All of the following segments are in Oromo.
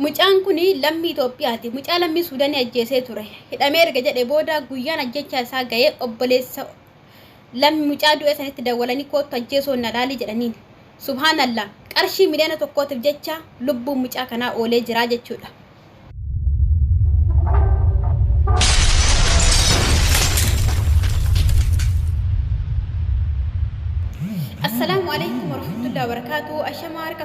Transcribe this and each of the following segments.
Mucaan kun lammii Itoophiyaati. Mucaa lammii Suudanii ajjeesee ture. Hidhamee erga jedhe booda guyyaan ajjechaa isaa ga'ee obboleessa lammi mucaa du'e sanitti dawwalanii koottu ajjeesoon na laalii jedhaniin. Subhaanallah qarshii miliyoona tokkootiif jecha lubbuun mucaa kanaa oolee jira jechuudha. Assalaamu alaikum warahmatullahi wabarakaatu. Ashamaa harka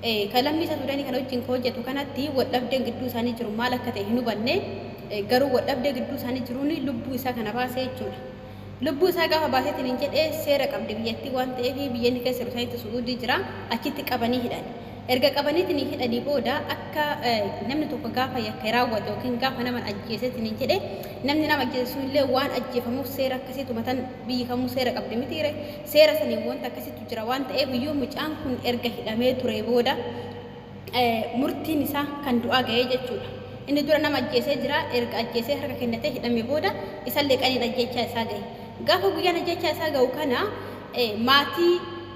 Ka lammii isa Suudanii kana wajjin ka hojjatu kanatti waldhabdeen gidduu isaanii jiru maal akka ta'e hin hubanne, garuu waldhabdee gidduu isaanii jiruun lubbuu isaa kana baase jechuu dha. Lubbuu isaa gaafa baasee isiniin jedhe seera qabdi biyyattiin waan ta'eef biyya inni keessa jiru sanitti Su'uudii jira, achitti qabanii hidhan. Erga qabanii isiniin hidhanii booda akka namni tokko gaafa yakka raawwate yookiin gaafa naman ajjeese isiniin jedhe namni nama ajjeese sunillee waan ajjeefamuuf seera akkasii tumatan biyyi kamuu seera qabdi mitiire? Seera saniin wanta akkasiitu jira waan ta'eef yoo mucaan kun erga hidhamee turee booda murtiin isaa kan du'aa ga'ee jechuudha. Inni dura nama ajjeesee jira, erga ajjeesee harka kennatee hidhame booda isallee qaniin ajjeechaa isaa ga'e. Gaafa guyyaan ajjeechaa isaa ga'u kana maatii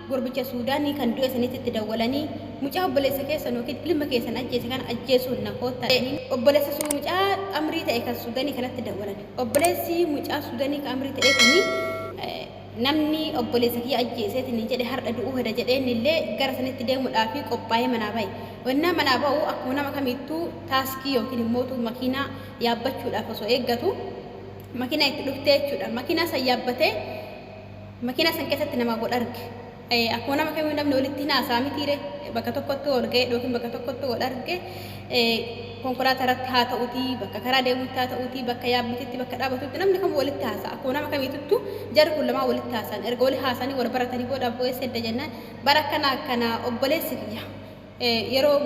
gurbicha Suudaanii kan du'e saniititti dawwalanii mucaa obboleessa keessan yookiin ilma keessan ajjeese kana ajjeesuun na koottaa jedhanii obboleessa suu mucaa amrii ta'e kan Suudaanii kanatti dawwalan. Obboleessi mucaa Suudaanii kan amrii ta'ee kuni Namni obboleessa kiyya ajjeese isiniin jedhe hardha du'uu heda jedhee innillee gara sanitti deemuudhaaf qophaayee manaa baye. Wennaa manaa ba'u akkuma nama kamiittuu taaskii yookiin immootu makiinaa yaabbachuudhaaf osoo eeggatu makiinaan itti dhufte jechuudha. Makiinaa san yaabbatee makiinaa san keessatti namaa wal arge. Akkuma nama kamiyyuu namni walitti hin haasa'a mitiire bakka tokkotti wal ga'e yookiin bakka tokkotti wal arge konkolaataa irratti haa ta'uutii bakka karaa deemutti haa ta'uutii bakka yaabbititti bakka dhaabatutti namni kamuu walitti haasa'a akkuma nama kamiituttu jarri kun lamaan walitti haasa'an erga wali haasa'anii wal baratanii booda abboo eessa edda jennaan bara akkana akkana obboleessi kiyya Yeroo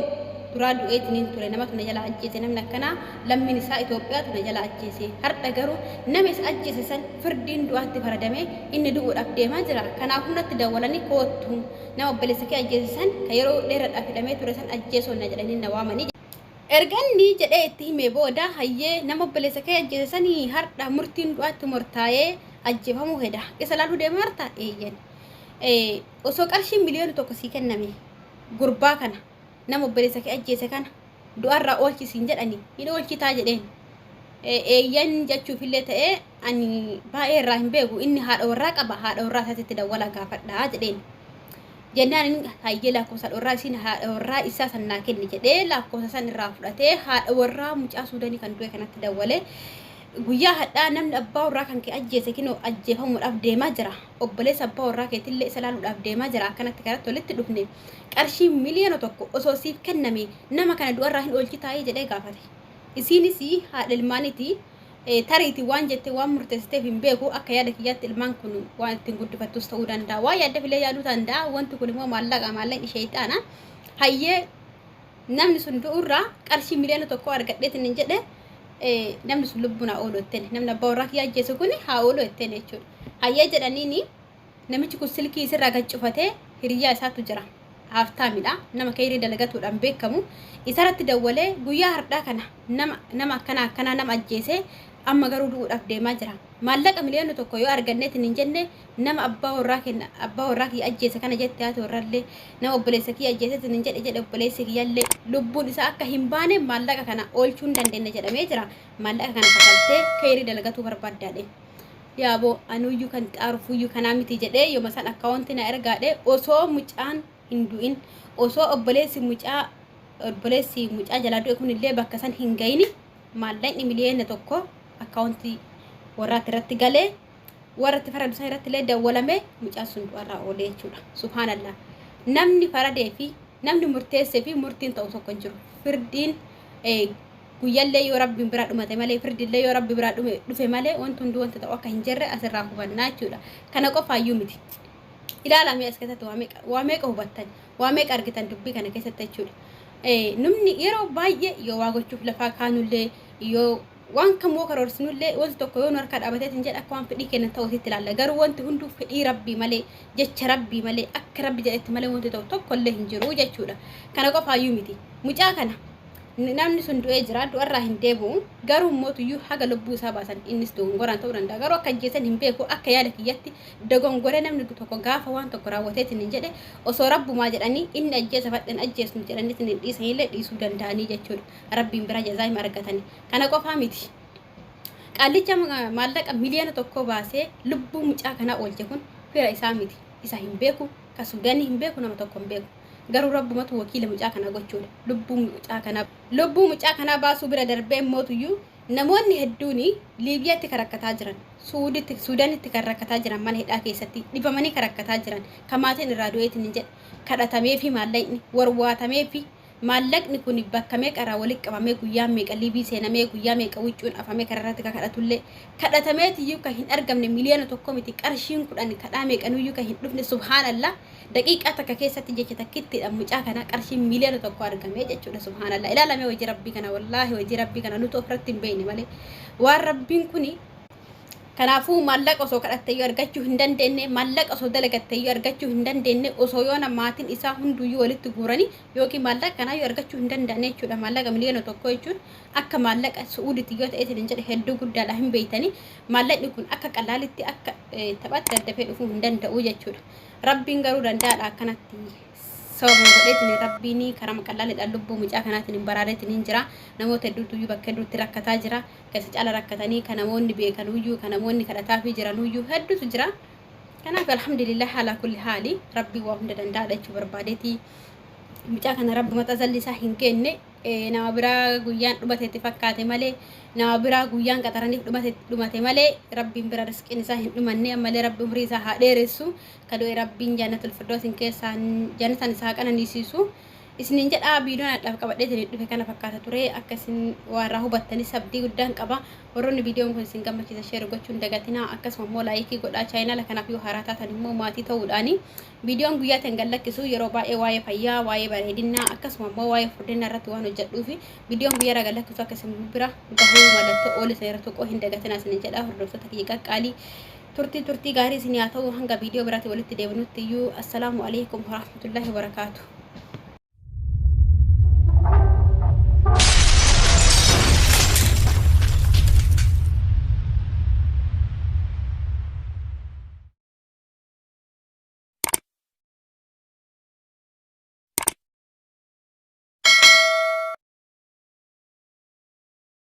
duraa du'eetiniin ture namatu na jalaa ajjeese namni akkanaa lammiin isaa Itoophiyaatu na jalaa ajjeese hardha garuu nama isa ajjeese san firdiin du'aatti faradamee inni du'uudhaaf deemaa jira kanaafuu natti dawwalanii koottu nama obboleessa kee ajjeese san ka yeroo dheerradhaaf hidhamee ture san ajjeesoo na jedhanii na waamanii erga inni jedhee itti himee booda hayyee nama obboleessa kee ajjeese sani hardha murtiin du'aatti mortaayee ajjeefamuu heda isa laaluu deemaarta eeyyen osoo qarshiin miliyoona tokko sii kenname gurbaa kana nama obboleessa kee ajjeese kana du'arraa oolchi siin jedhani hin oolchitaa jedheen eeyyan jechuufillee ta'ee ani baay'ee irraa hin beeku inni haadha warraa qaba haadha warraa isaatitti dawwalaa gaafadhaa jedheen jennaan inni hayyee lakkoofsa haadha warraa isiin haadha warraa isaa san naa kenni jedhee lakkoofsa san irraa fudhatee haadha warraa mucaa suudanii kan du'e kanatti dawwalee guyyaa hadhaa namni abbaa warraa kan kee ajjeese kinoo ajjeefamuudhaaf deemaa jira obboleessa abbaa warraa keetillee isa laaluudhaaf deemaa jira akkanatti kanatti walitti dhufne qarshii miliyoona tokko osoo siif kenname nama kana du'arraa hin oolchitaayii jedhee gaafate isiinis haadha ilmaaniti tariiti waan jette waan murteessiteef hin beeku akka yaada kiyyaatti ilmaan kun waan ittiin guddifattus ta'uu danda'a waa yaadda filee yaaduu danda'a wanti kun immoo maallaqa maallaqni sheeyxaana hayyee Namni sun du'urraa qarshii miliyoona tokko argadheetiin hin jedhe namni sun lubbuun haa oolu jettee namni abbaa warraa kiyyaa ajjeese kun haa oolu jettee jechuudha. Hayyee jedhaniini namichi kun silkii isirraa gad cufatee hiriyyaa isaatu jira. Haaftaamidha. Nama keeyrii dalagatuudhaan beekamu. Isarratti dawwalee guyyaa hardhaa kana nama nama akkanaa akkanaa nama ajjeese amma garuu du'uudhaaf deemaa jira. Maallaqa miliyoona tokko yoo arganneetiin hin jenne Nama abbaa warraa kenna abbaa warraa kiyya ajjeese kana jette haati warrallee nama obboleessa kiyya ajjeese sinin jedhe jedhe obboleessi kiyyallee lubbuun isaa akka hin baane maallaqa kana oolchuu hin dandeenye jedhamee jira maallaqa kana kafaltee keeyrii dalagatuu barbaaddaadhe yaaboo anuyyuu kan xaarufuyyuu kanaa miti jedhee yoma san akkaawonti na ergaadhe osoo mucaan hin du'in osoo obboleessi mucaa obboleessi mucaa jalaa du'e kunillee bakka san hin gayini maallaqni miliyeena tokko akkaawonti warraatti irratti galee warra itti faradu san irratti illee dawwalamee mucaan sun du'arraa oolee jechuudha. Subhaanallah. Namni faradee fi namni murteessee fi murtiin ta'u tokko hin jiru. Firdiin guyyallee yoo rabbiin biraa dhumate malee firdiillee yoo rabbi biraa dhufe malee wanti hunduu wanta ta'u akka hin jirre asirraa hubannaa jechuudha. Kana qofaayyuu miti. Ilaalamee as keessatti waa meeqa hubattan waa meeqa argitan dubbii kana keessatti jechuudha. Namni yeroo baay'ee yoo waa gochuuf lafaa kaanullee yoo Waan kam yoo karoorsinullee wanti tokko yoo nu harkaa dhaabatee sin jedhe akka waan fedhii keenna ta'u sitti ilaalla. Garuu wanti hunduu fedhii Rabbii malee, jecha Rabbii malee, akka Rabbi jedhetti malee wanti ta'u tokkollee hin jiru jechuudha. Kana qofaayyuu miti. Mucaa kana namni sun du'ee jira, du'arraa hin deebi'u. Garuu mootuyyuu haga lubbuu isaa baasan innis dogongoraan ta'uu danda'a. Garuu akka ajjeesan hin beeku. Akka yaada kiyyatti dogongoree namni tokko gaafa waan tokko raawwateetiin hin jedhe osoo Rabbumaa jedhanii inni ajjeesa fadhan ajjeesnu jedhaniitiin hin dhiisanillee dhiisuu danda'anii jechuudha. Rabbiin biraa jazaa hima argatani. Kana qofaa miti. Qaallicha maallaqa miliyoona tokkoo baasee lubbuu mucaa kanaa oolche kun fira isaa miti. Isa hin beeku, ka Suudaanii hin beeku, nama tokko hin beeku. Garuu Rabbumatu wakiila mucaa kanaa gochuudha. Lubbuu mucaa kanaa lubbuu mucaa kanaa baasuu bira darbee immootuyyuu namoonni hedduun Liibiyaatti kan rakkataa jiran, Suuditti, Suudaanitti kan rakkataa jiran mana hidhaa keessatti dhibamanii kan rakkataa jiran, ka maatiin irraa du'eetiin hin jedhe kadhatameefi maallaqni warwaatamee fi Maallaqni kun bakka meeqa irraa walitti qabamee guyyaan meeqa liivii seenamee guyyaa meeqa huccuun afamee karaa irratti ka kadhatullee kadhatameetiyyuu ka hin argamne miliyoona tokko miti qarshiin kudhan kadhaa meeqanuyyuu ka hin dhufne subhaanallah daqiiqaa takka keessatti jecha takkittiidhaan mucaa kana qarshiin miliyoona tokko argamee jechuudha subhaanallah ilaalamee hojii rabbii kana wallaahi hojii rabbii kana nutu ofirratti hin beekne malee waan rabbiin kuni Kanaafuu maallaqa osoo kadhatteyyuu argachuu hin dandeenye, maallaqa osoo dalagatteyyuu argachuu hin dandeenye, osoo yoona maatiin isaa hunduyyuu walitti guuranii yookiin maallaqa kanaayyuu argachuu hin danda'anii jechuudha. Maallaqa miliyoona tokko jechuun akka maallaqa Su'uudiitti yoo ta'e hin jedhe hedduu guddaadha hin beeytanii. Maallaqni kun akka qallaalitti akka taphaatti daddafee dhufuu hin danda'u jechuudha. Rabbiin garuu danda'aadha akkanatti sababa godheetiin rabbiin karama qallaaliidhaan lubbuu mucaa kanaatiin hin baraareetiin hin jira. Namoota hedduutu iyyuu bakka hedduutti rakkataa jira. Ka isa caala rakkatanii, ka namoonni beekanuuyyuu, ka namoonni kadhataafii jiranuuyyuu hedduutu jira. Kanaaf alhamdulillah alaa kulli haali Rabbi waa hunda danda'aadha jechuu barbaadeti. Mucaa kana Rabbumatu azalli isaa hin kenne eh, nama biraa guyyaan dhumate itti fakkaate malee nama biraa guyyaan qaxaraniif dhumate dhumate malee Rabbiin bira risqiin isaa hin dhumanne ammallee Rabbi umrii isaa haa dheeressu ka du'e Rabbiin jannatul firdoosin keessaan jannataan isaa haa qananiisiisu. isiniin jedha viidiyoon adhaaf qabadhee isiniif dhufe kana fakkaata ture akka isin waa irraa hubattanis abdii guddaan qaba warroonni viidiyoon kun isin gammachiisa sheer gochuun dagatinaa akkasuma immoo laayikii godhaa chaayinaala kanaaf yoo haaraa taatan immoo maatii ta'uudhaani viidiyoon guyyaatti hin gallakkisu yeroo baay'ee waa'ee fayyaa waa'ee bareedinaa akkasuma immoo waa'ee furdinaa irratti waan hojjedhuufi viidiyoon guyyaa irraa gallakkisu akka isin bira gahuu mallattoo oole sana irra tuquu hin dagatinaa isiniin jedha hordoftoota kiyya qaqqaalii Turtii turtii gaarii isin yaa ta'u hanga viidiyoo biraatti walitti deebinutti iyyuu assalaamu alaikum warahmatullahi wabarakaatu.